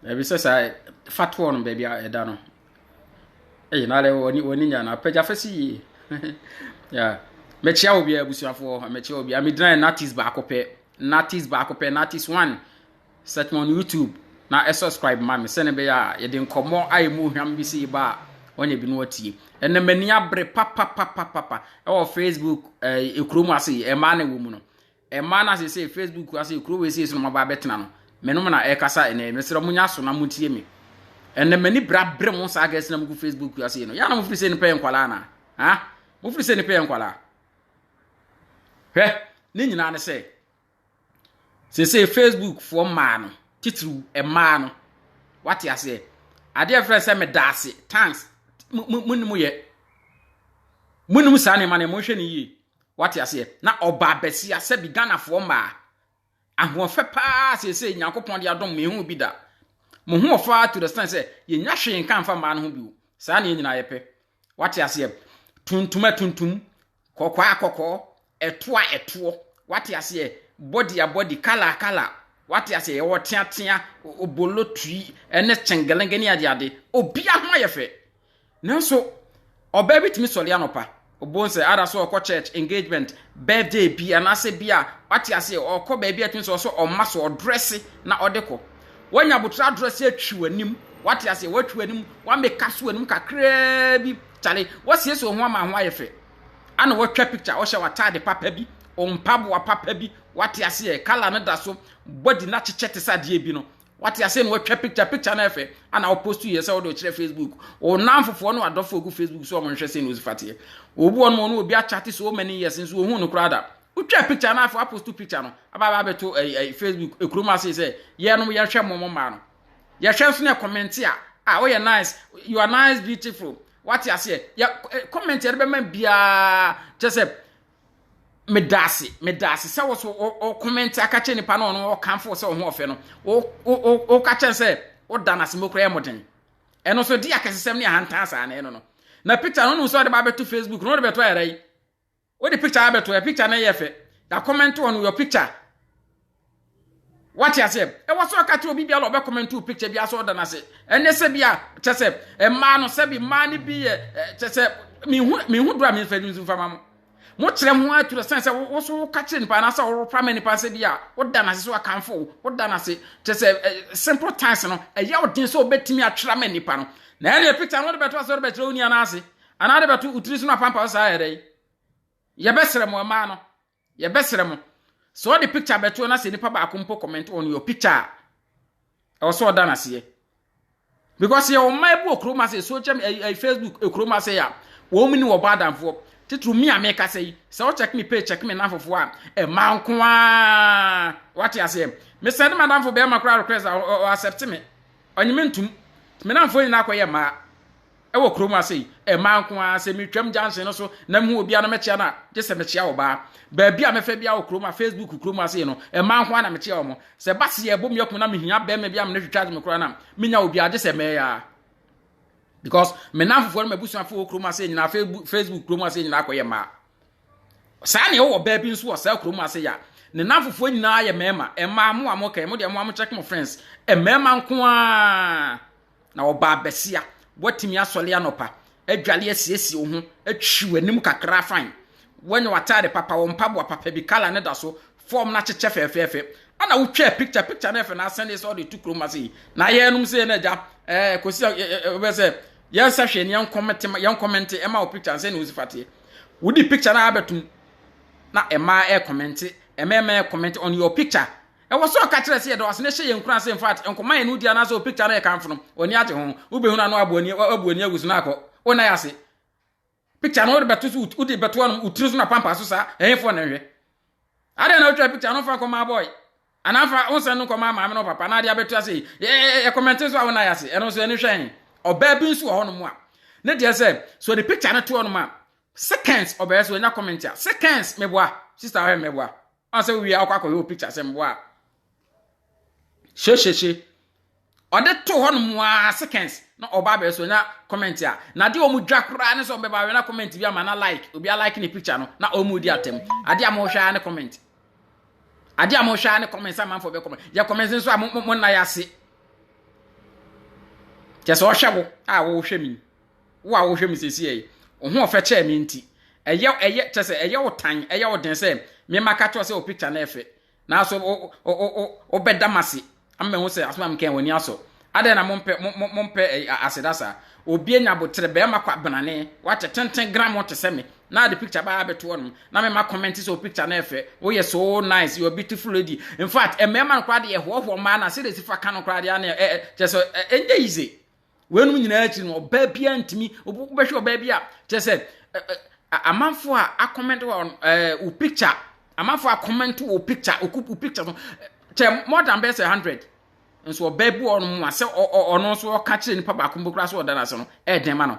Baabi sɛ saa fatoɔ no baabi a ɛda no. Ɛyɛ na wɔne wɔne nya no apagya fɛ si yie. yeah. Mɛkyia wɔ biara abusuafoɔ mɛkyia wɔ biara megyina natis baako pɛ natis baako pɛ natis one search me on YouTube na ɛ subscribe ma me sɛne bɛyɛ a yɛde nkɔmmɔ a ɛmu ohwam bi si ba a wɔnyɛ bi no atie ɛnna m'ani abere papapapapa ɛwɔ Facebook ɛɛ ekuro mu ase ɛmaa na ɛwɔ mu no Mmaa no a seesei Facebook ase kuro wei sei so na moaba abɛtena no, me nom na ɛrekasa ɛnɛ yi. Mesrɛ monyɛ aso na motie me. Ɛnɛ m'ani bra bere mo saa gɛs na mogu Facebook ase no. Yɛ na mofiri sɛ nipa yɛ nkwalaa na. Ha? Mofiri sɛ nipa yɛ nkwalaa. Hwɛ, ne nyinaa ne sɛ, seesei Facebook foɔ mmaa no, titiriw mmaa no, wate aseɛ. Adeɛ frɛ sɛ meda ase, thanks, mo ne mo yɛ. Mo ne mo saa nneɛma no, mo nhwɛ ne yie. Wate aseɛ? Na ɔbaa basia sɛbi Ghanafoɔ mmaa. Ahoɔfɛ paa seesei Nyankopɔn de adom mehu bi da. Mo ho ɔfɛ ara to the stand sɛ yɛnya hwee nka mfa mmaa no ho bio. Saa na yɛn nyinaa yɛpɛ. Wate aseɛ? Tuntum atuntum, kɔkɔɔ a kɔkɔɔ, ɛtoɔ a ɛtoɔ. Wate aseɛ? Body a body, colour a colour. Wate aseɛ? Yɛwɔ teatea, obolotui, ɛne kyengelenge ne adeade. Obia ho ayɛ fɛ. Nanso, ɔbaa bi tumi sɔre anɔpa, ɔbɔ nsɛ, ada so ɔkɔ church, engagement, birthday bi, anaasɛ bi a wate ase ɔkɔ baabi a ɛtumi sɛ ɔsɛ ɔma so ɔdrɛse na ɔde kɔ. Wanya abotire adrɛse atwi w'anim, wate ase, watwi w'anim, wameka so w'anim kakraa bi, kyale, wasiesie wo ho ama ho ayɛ fɛ. Ana watwa picture, ɔhyɛ w'ataade papa bi, mpaboa papa bi, wate aseɛ, kala no da so, body no akyekyɛ te sɛ adeɛ bi no, Wate ase na watwa picture picture na ɛfɛ ana wo post yɛ sɛ wode ɔkyerɛ Facebook wo nan fofoɔ no adɔfo ogu Facebook so ɔmo nhwɛ sɛ na osi fateɛ obu ɔno ɔno obi akyate so many years nso ohun no koraa da wotwa picture na afɔ apost picture no aba aba abɛto ɛyi ɛyi Facebook ekuro mu ase sɛ yɛnom yɛhwɛ mo mo mmaa no yɛhwɛ nso na ɛkɔmɛnti a a woyɛ nice you are nice beautiful wate aseɛ yɛ kɔmɛnti yɛde bɛma biara kyɛ sɛ meda ase meda ase sɛ wo so wokɔmɛnte aka kyerɛ nipa na ɔno ɔkamfo sɛ wo ho ɔfɛ no woka kyerɛ sɛ woda no ase mokora yɛ mmɔden ɛno so de akɛsesɛm ne ahantan saa na ɛno no na picture no nom sɛ ɔde ba bɛto facebook na ɔde bɛto ayɛrɛ yi wode picture abɛto ɛ picture no yɛ fɛ yɛakɔmɛnte wɔ no your picture wate aseɛ ɛwɔ sɛ ɔka kyerɛ obi biara ɔbɛ comment wo picture bi asɛ ɔda no ase ɛnɛ sɛ bi a kyɛ sɛ mmaa no sɛ bi mmaa no bi yɛ kyɛ sɛ mehu mehu dora me mfɛdi nso mfama mo mo kyerɛ ho atura sɛn sɛ wo so woka kyerɛ nipa anasɛ wopa ma nipa sɛ bi a woda no ase sɛ wakamfo wo woda no ase kyɛ sɛ simple times no ɛyɛ wo den sɛ wobɛtumi atwerɛ ma nipa no na ɛne picture no wode bɛto asɛ wode bɛkyerɛ wo nua no ase anaa wode bɛto wo tiri so no apampa wo saa yɛdɛ yɛbɛsrɛ mo mmaa no Yɛbɛsrɛ mo, sɛ ɔde picture bɛto na sɛ nipa baako mpo comment on your picture a, ɛwɔ sɛ ɔda n'aseɛ. Because yɛwɔ mmaa bi wɔ kurom ase, social media, eh, eh, Facebook, eh, kurom ase a, wɔn ni wɔbɔ adamfoɔ. Titiri mi a mekasa yi, sɛ ɔkyɛk me page, kyɛk me nanfofoɔ a, ɛmaa nko ara. Wate aseɛ? Mesɛ ne madamfo bɛrima koraa request a, ɔ- ɔ- ɔ- accept me. Ɔnye me ntom. Me nanfoɔ nyinaa kɔyɛ mmaa. wɔ kurom ase yi, mmaa nko ara, sɛ metwam junction no so na mehu obi a na mɛkyea no a, gye sɛ mekyea ɔbaa. Baabi a mɛfa biara wɔ kurom a Facebook kurom ase yi no, mmaa nko ara na mekyea wɔn. Sɛ ba se yɛbɔ mu akun na mehia bɛrima bi a me ne twitwa me koraa na menya obi a, gye sɛ mɛyɛ a. Because me nanfofoɔ no m'abusuafoɔ wɔ kurom ase nyinaa, Facebook kurom ase nyinaa kɔyɛ mmaa. Saa na ɛwɔ baa bi nso wɔ saa kurom ase yɛ a, ne nanfofoɔ nyinaa yɛ mmarima. Mmaa mo a mo kɛn, mo deɛ mo a mo check mo friends, mmarima nko ara. na ɔbaa bɛsia. Woatumi asɔre anɔpa, adware asiesie wo ho, atwi w'anim kakra afan. Woanya w'atade papa, wo mpaboa papa bi, kala no da so, fɔm no akyekyɛ fɛɛfɛɛfɛ. Ana wotwaa pikya, pikya no yɛ fɛ na asɛn de sɛ ɔde to kurom ase yi. Na yɛnom sɛ na agya, ɛɛ, kɔsi wobɛ sɛ, yɛnsa hwɛ ne yɛnkɔmɛnte ɛma wo pikya nsɛ ne wo si fateɛ. Wodi pikya no abɛtom na ɛmaa ɛkɔmɛnte, ɛmɛɛmɛɛ kɔmɛnte on your picture. Ɛwɔ sɛ ɔka kyerɛ sɛ yɛdɔ ase na ɛhyɛ yɛn nkuran sɛ in fact nkɔma yɛne wo di anaasɛ wo picture no yɛ kamfo no, w'ani agye ho. Wobɛhunu a na wabu ani wabu ani agu so na akɔ wo nan ase. Picture no wode bɛto so wode bɛto anom wo tiri so na pampa so saa ɛhefoɔ na nhwɛ. Adɛn na wotwa picture no fa nkɔma boy anaa fa wo nsɛn no nkɔma maame no papa na ade abɛto ase yi yɛ kɔmɛnte nso a wo nan ase ɛno nso ɛne hwɛ he. Ɔbaa bi nso wɔ hɔ nom a ne deɛ sɛ so ɔde picture no to hɔ nom a seconds ɔbɛyɛ so ɔnya comment a seconds meboa sister ahwɛ meboa ɔn sɛ wowie akɔ akɔyɛ wo picture sɛ mboa a hyehyehye ɔde to hɔ nom a seconds na ɔba abɛyɛ so nya comment a na de ɔmo dwa koraa ne sɛ ɔmo bɛba awɛ na comment bi ama na like obi a like ne picture no na ɔmo di atam ade a mo hwɛ ara ne comment ade a mo hwɛ ara ne comment sɛ amanfoɔ bɛ comment yɛ comment nso a mo mo nna yɛ ase kyɛ sɛ ɔhwɛ wo a wɔhwɛ mi. Wo a wohwɛ me seesei yi, wo ho ɔfɛ kyɛɛ me nti, ɛyɛ ɛyɛ kyɛ sɛ ɛyɛ wo tan, ɛyɛ wo den sɛ me mma ka kyerɛ wo sɛ wo picture no yɛ fɛ. Nanso wo wo wo wo wobɛda m'ase ama mahu sɛ asɛm a mekae w'ani asɔ. Adɛn na mompɛ mo mo mompɛ ɛyi a aseda saa? Obi anya aboterɛ, barima kwabenane, wakyɛ tenten grammo te sɛ me, na ade picture baa abɛto hɔnom, na me mma comment sɛ wo picture no yɛ fɛ, woyɛ so nice, you're a beautiful lady. In fact, mmarima no koraa de yɛhoahoa mmaa no a, sɛdeɛ ɛsi fa ka no koraa deɛ a na ɛ ɛ kyerɛ sɛ ɛ ɛnyɛ easy. weinom nyinaa akyi no ɔbaa bi antumi wobɛhwɛ ɔbaa bi a kyerɛ sɛ amanfo a akɔmɛnto wɔ wo picture amanfo a kɔmɛnto wɔ picture wo picture no kyɛ more than bɛsɛ hundred nso ɔbaa bi wɔ ɔno mu a sɛ ɔno nso ɔka kyerɛ nipa baako bi koraa sɛ ɔda no ase no ɛɛdɛn ma no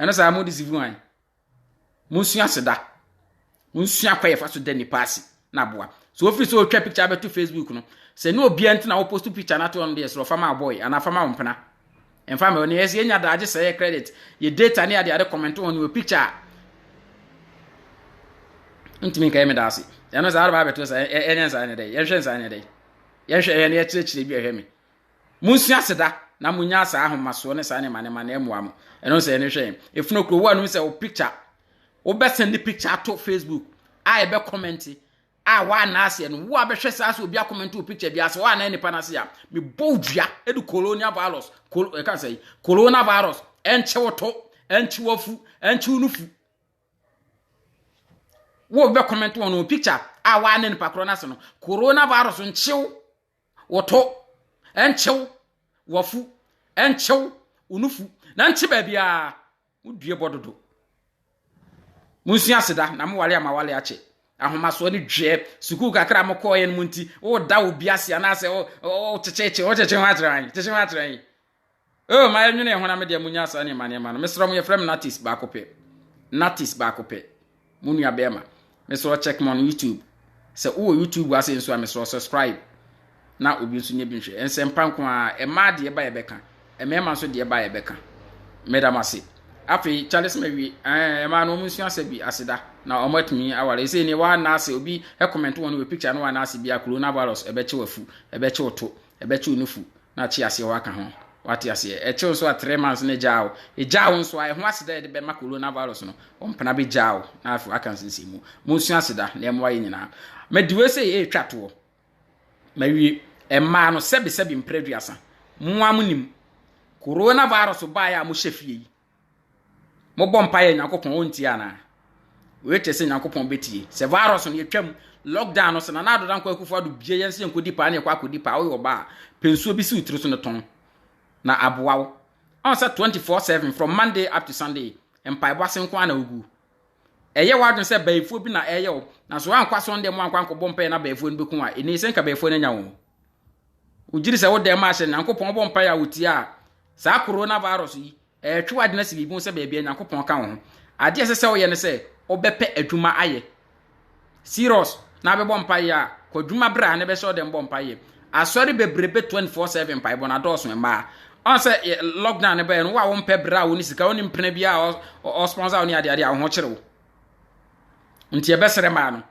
ɛno saa mo disifu hwan monsua aseda monsua kɔ yɛfa so da nipa ase na aboa so wofiri sɛ ɔtwa picture abɛto facebook no sɛ ne obia nti na woposto picture no ato ɔno deɛ sɛ ɔfa ma abɔe anaa fa ma wo mpena ɛmfa ma ɔne ɛsɛ yɛnya daagye sɛ yɛ credit yɛ data ne ade ade kɔmɛnto hɔ ne wɔ picture a ntumi nka yɛ me da ase ɛno saa wode baabɛto sɛ ɛnyɛ nsa ne dɛ yɛnhwɛ nsa ne dɛ yɛnhwɛ yɛne yɛkyerɛkyerɛ bi ɛhwɛ me Monsi aseda na monyaa saa ahomasoɔ ne saa nneɛma nneɛma na ɛmmoa mo. Ɛno sɛ ɛne hwɛ yɛn. Efunu kuro wo anum sɛ wo picture wobɛsɛn ne picture ato Facebook a ɛbɛ kɔmɛnti a woana aseɛ no wo a bɛhwɛ saa sɛ obi akɔmɛnti wo picture bi ase woana nipa no ase a mebɔ wo dua de colonial virus ɛka sɛ corona virus ɛnkyɛ wo to ɛnkyɛ wo afu ɛnkyɛ wo nufu wo bɛ kɔmɛnti wɔn no picture a woana nipa korɔ no ase no corona virus nkyew Wo to, ɛnkyew, w'afu, ɛnkyew, wo nufu, na nkye baabiara, mo due bɔ dodo. Munsua aseda, na mo wale ama wale akye. Ahomasoɔ ne dweɛ, sukuu kakra a mokɔɔyɛ no mu nti, woda obi ase anaasɛ wokyekyeekye, wokyekye ho akyerɛ an, kyekye ho akyerɛ an. Oh, ma yɛnwene yɛn ho na medeɛ monya saa nneɛma nneɛma no. Mesrɛ mo yɛfrɛ me Natis baako pɛ. Natis baako pɛ. Mo nua bɛrima. Mesrɛ check me on YouTube. Sɛ wowɔ YouTube ase nso a mesrɛ subscribe. Na obi nso nyɛ bi nhwɛ. Nsɛmpa nko ara, ɛmaa deɛ ba yɛbɛka. Mmarima nso deɛ ba yɛbɛka. Meda mo ase. Afei, Charles Mawie, ɛɛ, ɛmaa no wɔn nsua sɛ bi aseda na wɔn atumi aware. Ɛsɛ ne wɔn anaase obi comment wɔn wɔ picture no wɔn anaase bi a coronavirus ɛbɛkye wafu, ɛbɛkye to. Ɛbɛkye wo nufu na akye aseɛ hɔ aka ho. Wate aseɛ? Ɛkye wo nso a three months na ɛgyaa wo. Ɛgyaa wo nso a, ɛho aseda a yɛde bɛma Corona virus no, wo mpena bɛgyaa wo na afei waka nsensɛnmu. Monsua aseda na ɛmmoa yɛn nyinaa. Madi wei sɛ ɛretwa toɔ. Mawie. Ɛmaa no sɛbesɛbe mprɛ aduasa. Mo ara monim. Corona virus baeɛ a mohyɛ fie yi. Mobɔ mpaeɛ Nyankopɔn ɔntie anaa? Wei te sɛ Nyankopɔn bɛtie. Sɛ virus no yɛtwam lockdown no sɛ Nana Addo Dankwa Akufo Addo bie yɛn sɛ yɛnkɔdi paa ne yɛkɔ akɔdi paa woyɛ ɔbaa a pɛ nsuo bi si wo tiri so no tɔn na aboa wo. Ɔn sɛ 24/7 from Monday up to Sunday mpaebɔ ase nko ara na wogu. Ɛyɛ w'adwene sɛ bayifoɔ bi na ɛreyɛ wo na sɛ woankɔ asɔn dɛm wankɔ ankɔbɔ mpaeɛ na bayifoɔ no bɛku wo a ɛnii sɛ nka bayifoɔ no anya wo. Wogyiri sɛ wo dɛm ahyɛ Nyankopɔn bɔ mpae a wotia a, saa coronavirus yi, ɛretwe w'adwene asi biribi ho sɛ baabi a Nyankopɔn ka wo ho. Ade a ɛsɛ sɛ woyɛ ne sɛ, wobɛpɛ adwuma ayɛ. Serious, na abɛbɔ mpae a, kɔ adwuma berɛ a na ɛbɛhyɛ ɔdɛm bɔ mpae yɛ. Asɔre bebrebe 24/7 mpaebɔ no adɔɔso mmaa. Ɔn sɛ lockdown no bɛyɛ no, wo a wompɛ berɛ a wo ne sika, wo ne mpena bi a ɔsponsor wo ne adeade a wo ho kyere wo. Nti ɛbɛsrɛ maa no.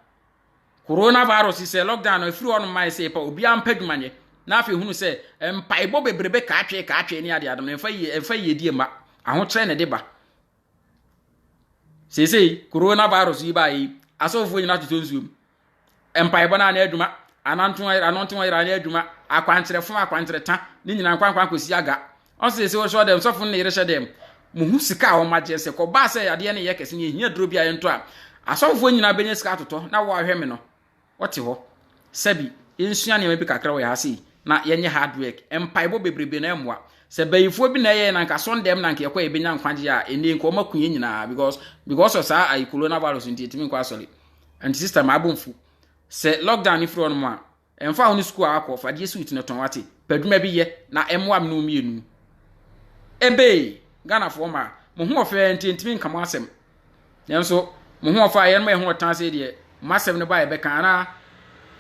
Coronavirus sɛ lockdown no ɛfiri hɔ no mmae sɛ ɛpa obiara mpa adwuma nyɛ na afei hunu sɛ mpaebɔ bebrebe kaatwee kaatwee ne ade adom no ɛmfa yie ɛmfa yie die mma ahokyerɛ na ɛde ba seesei coronavirus yi baeɛ yi asɔfoɔ nyinaa totɔ nsuo mu mpaebɔ no anaa adwuma ananto ananto ayera anaa adwuma akwankyerɛfo akwankyerɛta ne nyinaa nkwankwan kɔsi aga ɔsɛ ɛsɛ wɔsɔ dɛm sɔfo no ne yere hyɛ dɛm mo ho sika a wɔagye nsɛ kɔbaa sɛ adeɛ no yɛ kɛse ne ɛhia duro bi a yɛntɔ a asɔfofoɔ nyinaa bɛnya sika atotɔ na wɔahwɛ me no wɔte hɔ sɛbi yɛnsua nneɛma bi kakra wɔ yɛ ha sei na yɛnyɛ hard work mpaebɔ bebrebe na ɛmmoa sɛ bayifoɔ bi na ɛyɛ na nka sɔn dɛm na nka yɛkɔ yɛbɛnya nkwagye a ɛnne nka ɔma ku yɛ nyinaa because because of saa ayi coronavirus nti ɛtumi nkɔ asɔre nti sister ma abɔ mfu sɛ lockdown no firi hɔ nom a Ɛmfa ho ne sukuu a wakɔ, fa die suit no tɔn wate. Padwuma bi yɛ na ɛmmoa me ne wo mmienu. Ebee, Ghanafoɔ mmaa, mo ho ɔfɛ nti ntumi nka mo asɛm. Nanso, mo ho ɔfɛ a yɛnom yɛ ho ɔtan sei deɛ, mo asɛm no ba a yɛbɛka anaa?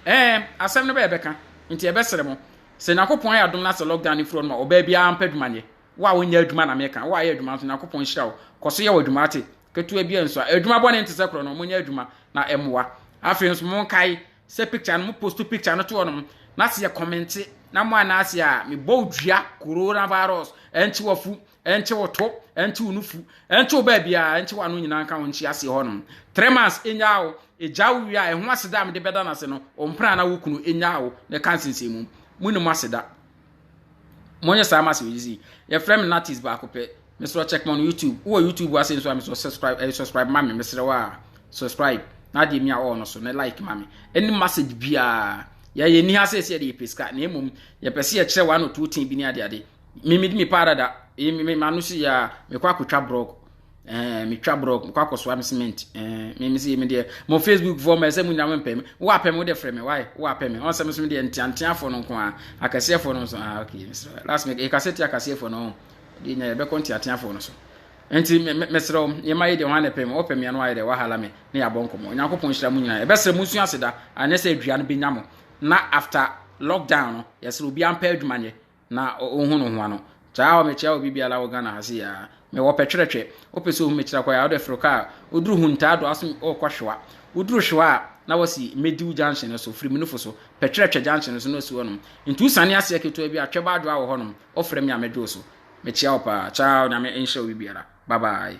Ɛɛ, asɛm no ba a yɛbɛka. Nti yɛbɛsrɛ mo, sɛ Nyankopɔn ayɛ adom na sɛ lockdown no firi hɔ nom a, ɔbaa biara mpa adwuma nyɛ. Wo a wonyɛ adwuma na meka, wo a ayɛ adwuma nso, Nyankopɔn nhyira wo. Kɔ so yɛ w'adwuma wate. Ketewa biara nsua. Adwuma bɔne nte sɛ korɔ no, monyɛ adwuma na ɛmmoa. Afei nso, monkae, sɛ picture no mo post picture no to hɔ nom na sɛ yɛ kɔmɛnte na mo anaase a mebɔ wo dua coronavirus ɛnkye wafu ɛnkye wo to ɛnkye wo nufu ɛnkye wo baabiaa ɛnkye wo ano nyinaa nka wo nkye aseɛ hɔ nom three months ɛnyaa wo ɛgya wo wie a ɛho aseda a mede bɛda no ase no ɔmpena na wo kunu ɛnyaa wo na ɛka nsensɛn mu mu ne mo aseda Monyɛ saa ma sɛ ɔyisi. Yɛfrɛ me Natis baako pɛ. Mesrɛ check me on YouTube. Wowɔ YouTube ase nso a mesrɛ subscribe eh, subscribe ma me. Mesrɛ wo a subscribe na adeɛ mi a ɔɔ no so na like ma me. Any message biara. Yɛyɛ ni ha sɛ sɛ yɛde yɛpɛ sika na mmom yɛpɛ sɛ yɛkyerɛ one or two thing bi ne adeade. Me medi me paradada. Eh, me ma no si ya mekɔ akɔtwa brɔg. ɛɛ eh, metwa borɔ mekɔ akɔsoa me cement ɛɛ eh, me me se me deɛ mo facebook foɔ ma ɛsɛ mo nyina mo mpɛ me wo apɛ me wo deɛ frɛ me wae wo apɛ me ɔnsɛ me so me deɛ nteanteafoɔ no nko a akɛseɛfoɔ no nso ah okay last week yɛkasɛ ti akɛseɛfoɔ no deɛ nya yɛbɛkɔ nteateafoɔ no so nti mesrɛ wo yɛma yɛ deɛ hwan na ɛpɛ me wɔpɛ me ano ayɛ dɛ wahala me ne yɛabɔ nkɔmmɔ onyankopɔn hyira mo nyinaa ɛbɛsrɛ mo nsu aseda anyɛ sɛ adua no bɛnya mo na after lockdown no yɛsrɛ obiara mpɛ adwuma nyɛ na wohu no ho ano. Taa hɔ mekyia obi biara wɔ Ghana ha sei aa. Mewɔ pɛtwerɛtwɛ. Wopɛ sɛ ohu me kyerɛ kwan a, wode foro kaa. Woduru Huntaa do aso wokɔ Hwewa. Woduru Hwewa a, na wasi Mediw junction no so, firi Munufo so. Pɛtwerɛtwɛ junction no so na wasi hɔ nom. Nti wosiane aseɛ ketewa bi a, Twɛba Adwoa wɔ hɔ nom. Wofrɛ me a mɛdwo wo so. Mekyia wo paa. Ciao, Nyame nhyira obi biara. Bye bye.